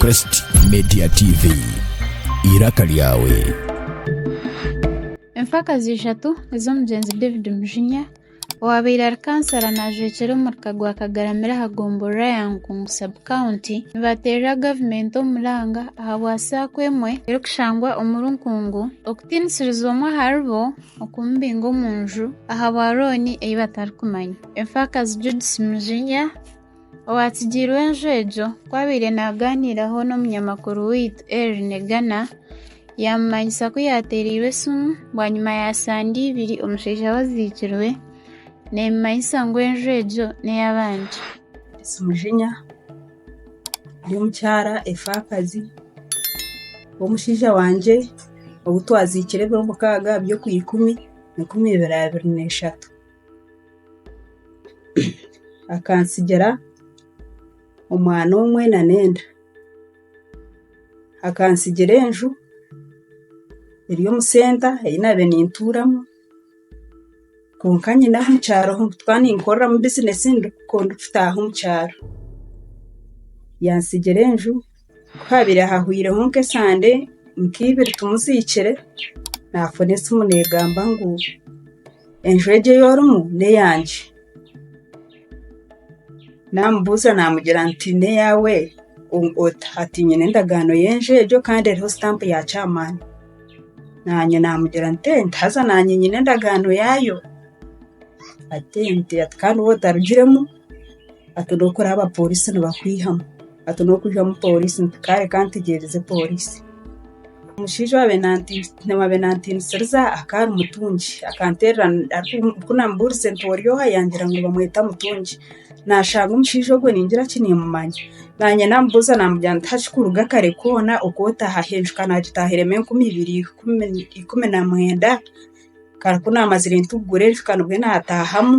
Crest Media TV. Iraka lyawe. Emfakazi ishatu ez'omugyenzi David Mujinya owaabaire ari kansara naajwekyera omurika gwa kagaramire aha gombolola ya Nkungu sub county nibateerera gavumenti omuranga ahabwa saako emwe erikushangwa omuri Nkungu okutiinisiriza omwe aharibo okumubinga omu nju ahabwa rooni ei batarikumanya. Emfaakazi Judith Mujinya, owaatsigiirwe enju egyo ku abaire naagaaniiraho n'omunyamakuru waitu Elly Negana, yaamumanyisa ku yaateereirwe esimu bwanyima ya sande ibiri omushaija we aziikirwe, neemumanyisa ngu enju egyo n'ey'abandi. Judith Mujinya ari omukyara emfaakazi w'omushaija wangye ou twaziikire eby'omukaaga byo ku ikumi, enkumi ibiri abiri n'eshatu. akantsigira omwana omwe nana enda akantsigira enju eri omu senta ei naabaire nintuuramu kwonka nyine ahu omu kyaro ahu ndikuba ninkoreramu bizinesi ndikutaaha omu kyaro yantsigira enju Ku haabaire hahwiremu nk'esande nka ibiri tumuziikire, naafuna esimu neegamba ngu enju egi ei orimu n'eyangye. Naamubuuza naamugira ngu n'eyaawe ota? Ati nyine endagaano y'enju egyo kandi eriho sitampu ya chairman. Naanye naamugira nti enti haza naanye nyine endagaano yaayo. Ati enti, ati kandi waaba otarugiremu? hati n'okuraba abaporiisi nibakwihamu hati n'okwihamu poriisi nti kareka ntegyereze poriisi. Omushaija owaabaire naantiinisiriza akaba ari mutungi akanterera ku naamubuurize nti ori oha yaangira ngu bamweta Mutungi. Naashanga omushaija ogwo ningira ki niimumanya. Naanye naamubuuza naamugamba nti haki kuruga kare koona okootaha? Aheeruka naagitaahiremu enkumi ibiri ikumi na mwenda. Kandi ku naamazire ntugure nshweka nibwo naataahamu.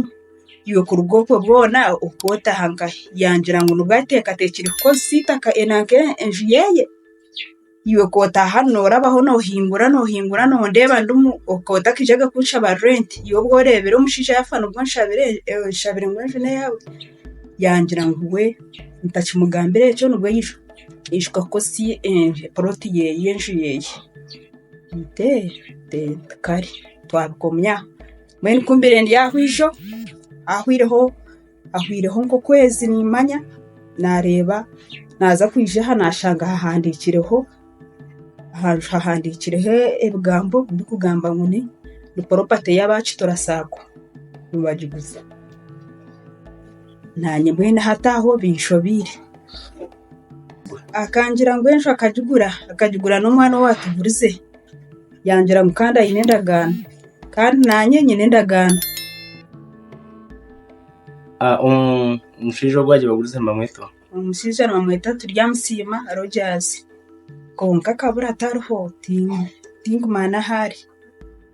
Iwe kuruga okwo bwona ohika otaaha nkahi? Yaagira ngu nibwo ateekateekire kukoresa eitaka nanka enju yeeye. Iwe ku otaaha noorabaho noohingura noohingura noondeeba ndimu ohika otakaijaga kunshaba rurenti. Iwe obu oreebire omushaija yaafa nibwo onshabire onshabire ngu enju n'eyaawe? Yaagira ngu we ntakimugambira ekyo nibwo aija aija kukoresa porooti yeeye enju yeeye. Tikare twabikomya mbwenu ku mbaire ndi aho ijo ahwireho nk'okwezi niimanya naareeba naaza kwija aha naashanga hahandiikireho hahandiikireho ebigambo birikugamba ngu ni poropati ey'abaakitura saako nibagiguza Naanye mbwenu ahataaho binshobeire. Akangira ngu enju akagigura, akagigura n'omwana owaatugurize. Yangira ngu kandi aine endagaano. Kandi naanye nyine endagaano. Omushaija ogu aagibagurize nibamweta ota? Omushaija nibamweta Turyamusiima Rogers. Kwonka akabura tariho, tinkumanya ahu ari.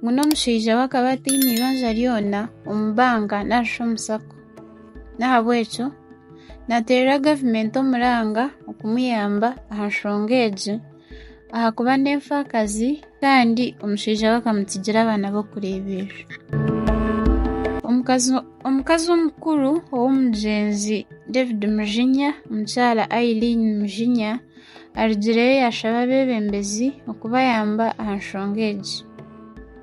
Ngu n'omushaija we akaba ataine eibanja ryona omu banka narishi omu sacco. N'ahabw'ekyo naateerera gavumenti omuranga okumuyamba aha nshonga egi ahakuba n'enfaakazi kandi omushaija we akamutsigira abaana b'okureeberera. Omukazi omukazi omukuru ow'omugyenzi David Mujinya, mukyara Irene Mujinya Arugireyo yaashaba abeebembezi okubayamba aha nshonga egi.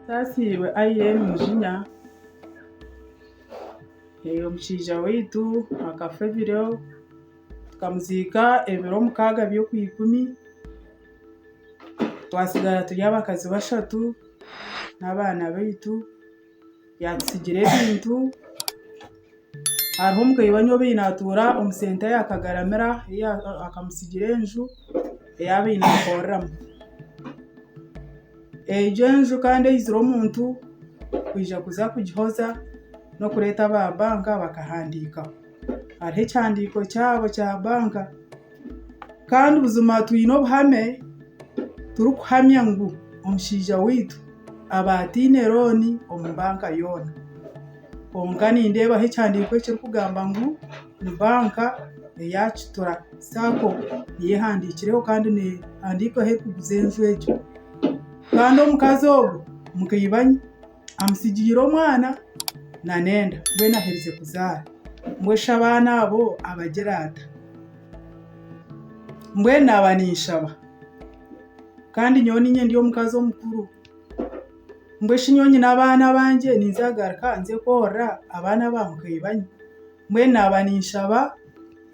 Nsaasiirwe Irene Mujinya, omushaija waitu akafa ebiro tukamuziika ebiro mukaaga by'okwiikumi twatsigara turi abakazi bashatu n'abaana baitu. Yatusigira ebintu. Hariho omukaire we ayine naatuura omu senta ya kagaramira ei akamusigira enju ei abaire naakoreramu. Egyo enju kandi eizire omuntu kwija kuza kugihoza n'okureeta aba banka bakahandiikaho. hariho ekyihandiko kyabo kya banka Kandi buzima twine obuhame turikuhamya ngu omushaija waitu aba ataine looni omu banka yoona kwonka nindeebaho ekyihandiko ekirikugamba ngu ni banka eya kituura sacco niyo ehandikireho Kandi nehandiikwaho erikuguza enju egyo Kandi omukazi ogwo mukaibanye Amutsigiire omwana na n'enda mbwenu aherize kuzaara. Mbwesha abaana abo abagira ata? Mbwenu naaba ninshaba kandi nyowe niinye ndi omukazi omukuru. Mbweshi nyowe nyine abaana bangye ninza kugaruka nze kworora abaana ba mukaibanyu? Mbwenu naaba ninshaba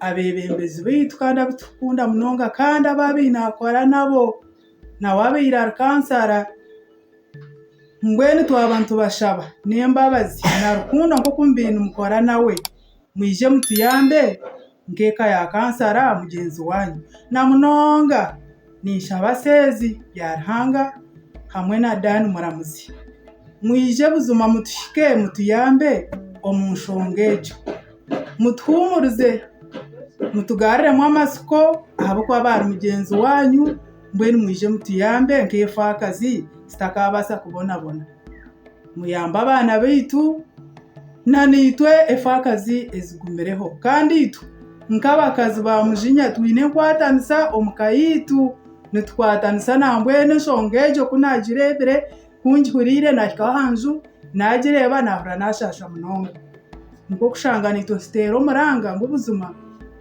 abeebembezi baitu kandi abu turikukunda munonga kandi ababi naakora nabo nawe abaire ari kansara. Mbwenu twaba nitubashaba n'embabazi na rukundo nk'oku mubaire nimukora nawe, mwije mutuyambe nk'eka ya kansara mugyenzi waanyu. Na munonga ninshaba Seezi Byaruhanga hamwe na Dan Muramuzi mwije buzima mutuhike mutuyambe omu nshonga egyo. Mutuhuumurize mutugariremu amatsiko ahabw'okuba baari mugyenzi waanyu. Mbwenu mwije mutuyambe nk'efaakazi zitakaabaasa kubonabona. Muyambe abaana baitu nana itwe efaakazi ezigumireho. Kandi itwe nk'abakazi ba Mujinya twine enkwatanisa omu ka yaitu. Nitukwatanisa nambwenu enshonga egyo ku naagireebire, Ku ngihuriire naahikaho aha nju, naagireeba naahurira naashaasha munonga. Nikwo kushanga naitwe tuteera omuranga ngu buzima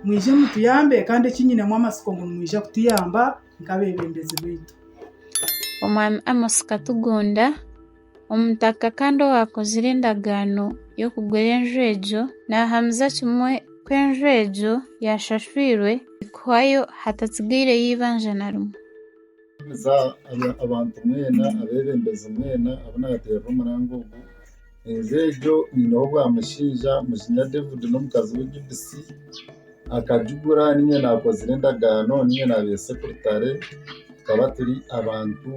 mwije mutuyambe kandi eki nyinemu amatsiko ngu nimwija kutuyamba nk'abeebembezi baitu. Omwami Amos Katugunda, omutaka kandi owaakozire endagaano y'okugura enju egyo, naahamiza kimwe ku enju egyo yaashashwirwe kuhwayo hatatsigaireyo eibanja na rimwe. Ninshemeza abantu mwena, abeebembezi mwena abu naateerera omuranga ogu. Enju egyo eineho bwamushaija, Muzinya David n'omukazi we Judith. Akagigura niinye naakozire endagaano, niinye naabaire sekuritare. Tukaba turi abantu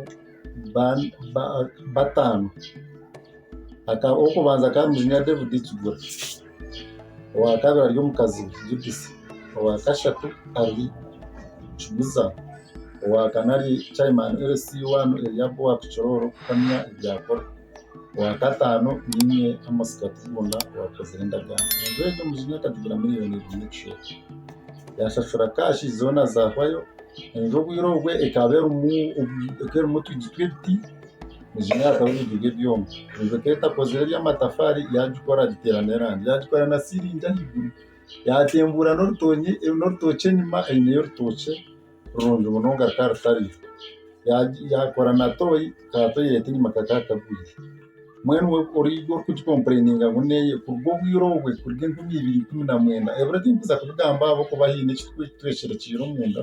bataano. Ow'okubanza akaba ari muzinya David Kigura, owa kabiri ari omukazi we Judith, owa kashatu ari Kiguza, owa kana ari Chairman LC1 Eliab owa Kichororo kuhamya ebyakora, owa kataano niinye Amos Katibunda owaakozire endagaano. Enju egi omuzinya akagigura miriyoni ibiri n'ekicweka. Yaashashura kaashi zoona zaahwayo. Enju obwire obwo ekaba erimu otwigi tw'ebiti. egi myaka y'obujuga ebyoma kwonka ekaba etakozire eby'amatafaari yaagikora agiteeramu erangi yaagikora na siiringi ahaiguru yaatembuura n'orutookye enyima eineyo orutookye rurungi munonga rukaba rutariho yaakora na tooyi ka toyileti enyima kakaba kagwire mbwenu oriija orikugikompureninga ngu neeye kuruga obwire obwe kuruga enkumi ibiri ikumi na mwenda ebiro tinkuza kubigamba ahabw'okuba haine eki twecwekyere omunda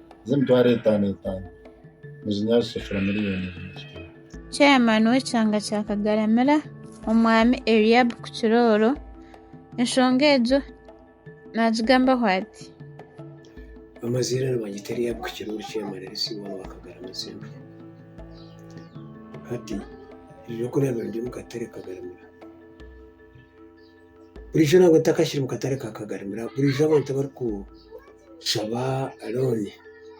z'emitwaro etaano etaano nizinywa rusefura miriyoni ibiri. Chairman w'ekyanga kya Kagaramira, Omwami Eliab Kukirooro, enshonga egyo naagigambaho ati, Amazire nibagita Eliab Kukirooro Chairman LC one wa Kagaramira Central. Hati ebyokurya birungi omu katare Kagaramira. burijo nabwe ntakashire omu katare ka kagarimiro burijo abantu abari ku shaba looni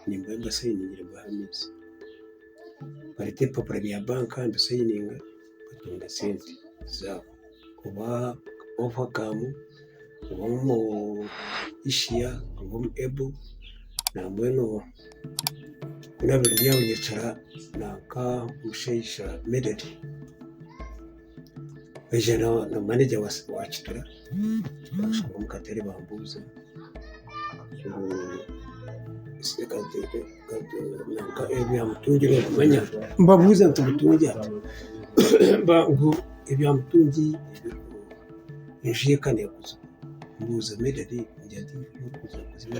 nimba mbasayiningira mbaha amaizi barete ebipapura bya banka mbisayininga batunga sente zabo oba ovaakamu oba omu ishiya oba omu ebo na mbwenu ku nabire byabunyekira nanka omushaija mededi. Waija na na manager wa wa Kituura baashohora omu katare baambuuza ngu nanka ebyamutungire okumanya mbabuuza nti Mutungi ati ba ngu ebyamutungi enju ye ka neeguzibwa mbuuza medard ngira nti enju y'okuguza buzima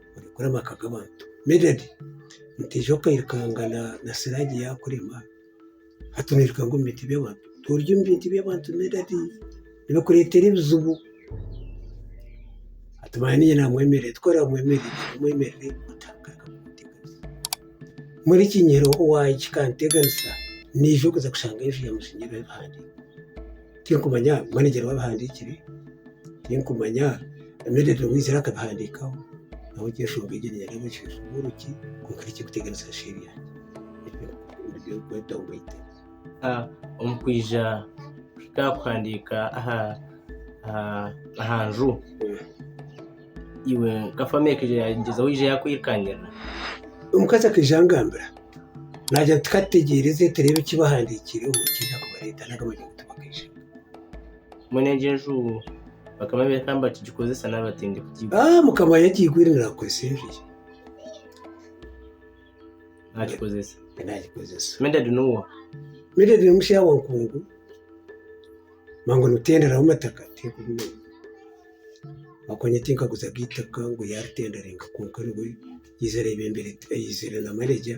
orikukora amaka g'abantu. Medard, Nitwiija okairukanga na Siraje yaakurema, hati noirukanga omu bintu by'abantu. Toorya omu bintu by'abantu Medard, nibikureetera ebizibu. Hati manya niinye naamwemerera, twaabaire tumwemerire naamwemerera nkamuteganisa. Mbwenu ekinyihirooho kikaanteganisa, naija kuza kushanga enju ya muzeyi Medard. Tinkumanya manegyere w'abihandiikire, tinkumanya Medard Lewis yaaba akabihandiikaho, ahabw'okugira enshoonga egyo niinyaga eby'obushweeshi bw'oruki, kwonka tikirikuteganisa nsheeri yangye. Ebyo nibyo birikweta ngu baitu. Omu kwija kuhika aha kuhandiika aha aha aha nju. iwe nka famire ekaija yaagyezaho kwija yaakwirukangira? Omukazi akaija angambira naagira ati, Ka tutegyereze tureebe eki baahandiikireho nikiija kubareeta nari baija kutubagaisha. Mbwenu egyo enju bakaba nibeereka ngu nibakigikozesa nari batindi kugiiba? Aa Mukama yagiigwire naagikoresa enju ye. Naagikozesa. Naagikozesa. Medard n'owaahi? Medard ni mushaawe wa nkungu, mangu nitutenderaho mataka. ahabw'okuba tinkaguzaga eitaka ngu yaaritenderenka kwonka nibwo yaija areebembera aizire na maneja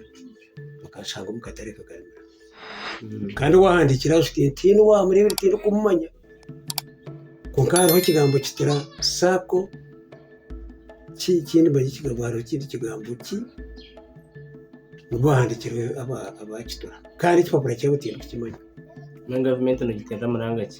akanshanga omu katare nkagarura kandi waahandiikire aha shuti ntiine owaamureebire tindikumumanya kwonka hariho ekigambo kituura saako ki kindimanya ekigambo hariho ekindi kigambo ki ngu baahandiikire aba kituura kandi ekipapura kyabo tindikukimanya. Enu gavumenti nigiteera muranga ki?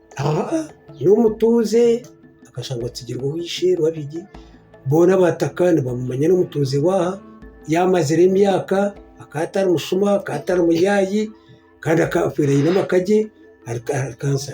n'omutuuze akashangwa atsigirwe owishe babiri boona abataka nibamumanya n'omutuuze waaha yamazire emyaka akaba atari mushuma akaba atari muyaayi kandi akafire aine amaka gye ari kansa.